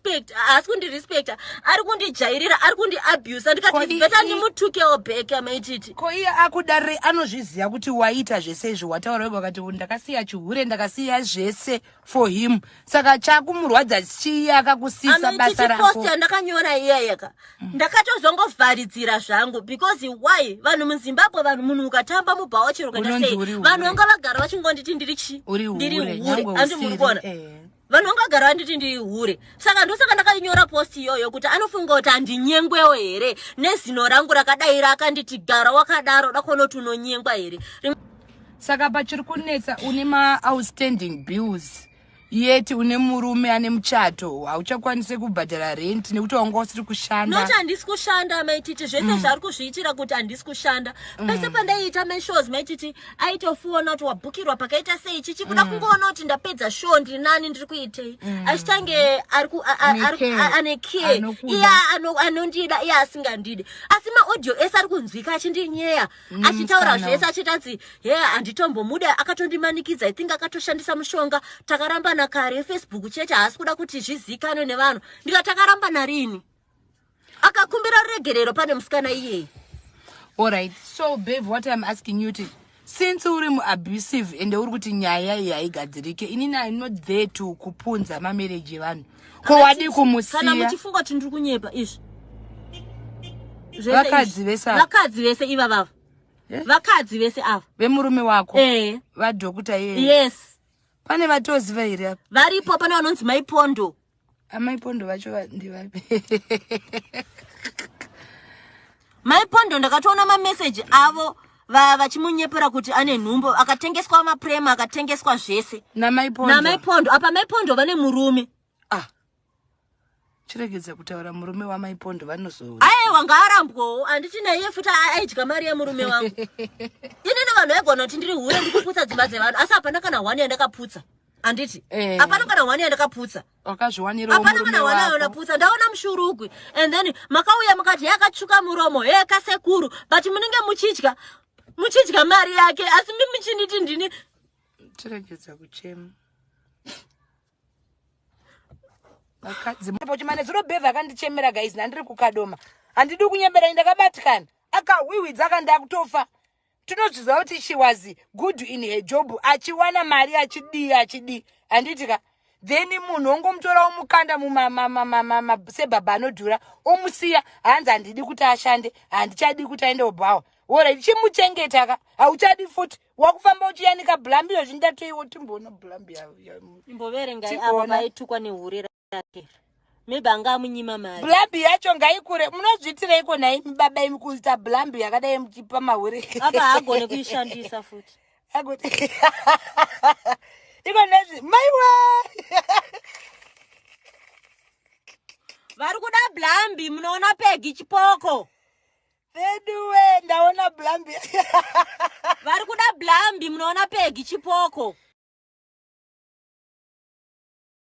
respect haasi kundirespecta ari kundijairira ari kundiabusa ndikatibeta ndimutukewo back amaititi ko iye akudare anozviziva kuti waita zvese izvi wataura wega wakati ndakasiya chihure ndakasiya zvese for him saka chakumurwadza chii akakusisa basa rakopost yandakanyora iyayeka mm. ndakatozongovharidzira zvangu because why vanhu muzimbabwe vanhu munhu ukatamba mubhawa chero ukaita sei vanhu vanga vagara vachingonditi ndiri chii ndiri hure andi muri kuona eh. vanhu vanga vagara vanditi ndihure saka ndosaka ndakainyora post iyoyo kuti anofunga kuti handinyengwewo here nezino rangu rakadaira akanditi gara wakadaro dakonoti unonyengwa here saka pachiri kunetsa une maoutstanding bills yeti une murume ane muchato hauchakwanise kubhadhara rent nekuti wanga usiri kushanda not handisi kushanda maititi zvese mm. zvaari kuzviitira kuti handisi kushanda mm. pese pandaiita mashows maititi aitofuona kuti wabhukirwa pakaita sei chichi kuda mm. kungoona kuti ndapedza show ndiri nani ndiri kuitei mm. achitange ane care iya anondida iya asingandide asi maaudio ese ari kunzwika achindinyeya mm, achitaura zvese achitanzi he handitombomuda akatondimanikidza i think akatoshandisa mushonga takarambana kare facebook chete haasi kuda kuti zvizikanwe nevanhu ndika takarambana rini akakumbira ruregerero pane musikana iyeye allright so bave what im asking you ti since uri muabusive ende uri kuti nyaya iyi haigadzirike inini im not there to kupunza mamereji evanhu ko wadii kumusiyakana muchifunga kuti ndiri kunyepa izvi vakadzi vese vakadzi vese iva vava eh? vakadzi vese ava vemurume wako ee vadhokuta iye yes pane vatoziva here varipo pane vanonzi maipondo Amai Pondo vacho ndivapi? Mai Pondo ndakatoona ma message avo vachimunyepera kuti ane nhumbo akatengeswa maprema akatengeswa zvese namai pondo apa mai pondo vane murume ah. chiregedza kutaura murume wamai pondo vanozoona aiwa ngaarambwawo handiti naiye futi aidya mari yemurume wangu inini vanhu vaigona kuti ndiri hure ndikuputsa dzimba dzevanhu asi hapana kana one yandakaputsa handiti Eh. hapana kana hwani yandakaputsa wakazviwanirawo hapana kana murume hwani wako yandaputsa ndaona mushurugwi and then makauya mukati yakatsvuka muromo hee kasekuru but munenge muchidya muchidya mari yake asi mi muchinditi ndini tiregedza kuchema vakadzi pochimane zuro bevha akandichemera guys nandiri kukadoma handidi kunyemberani ndakabatikana akahwihwidza akandakutofa tinozviziva kuti she was good in her job achiwana mari achidii achidii handiti ka then munhu ongomutorawo mukanda sebhabha anodhura omusiya hanzi handidi kuti ashande handichadi kuti aende obhawa orit chimuchengeta ka hauchadi futi wakufamba uchiyanika blambi yozvindatoiwo timboona blambi imboverengai avo vaitukwa nehurira maybe anga amunyima mari blambi yacho ngaikure munozviitireiko nhai baba imi kuita blambi yakadai muchipa mahure apa haagone kuishandisa futi iko nezvi maiwe vari kuda blambi munoona pegi chipoko veduwe ndaona blambi vari kuda blambi munoona pegi chipoko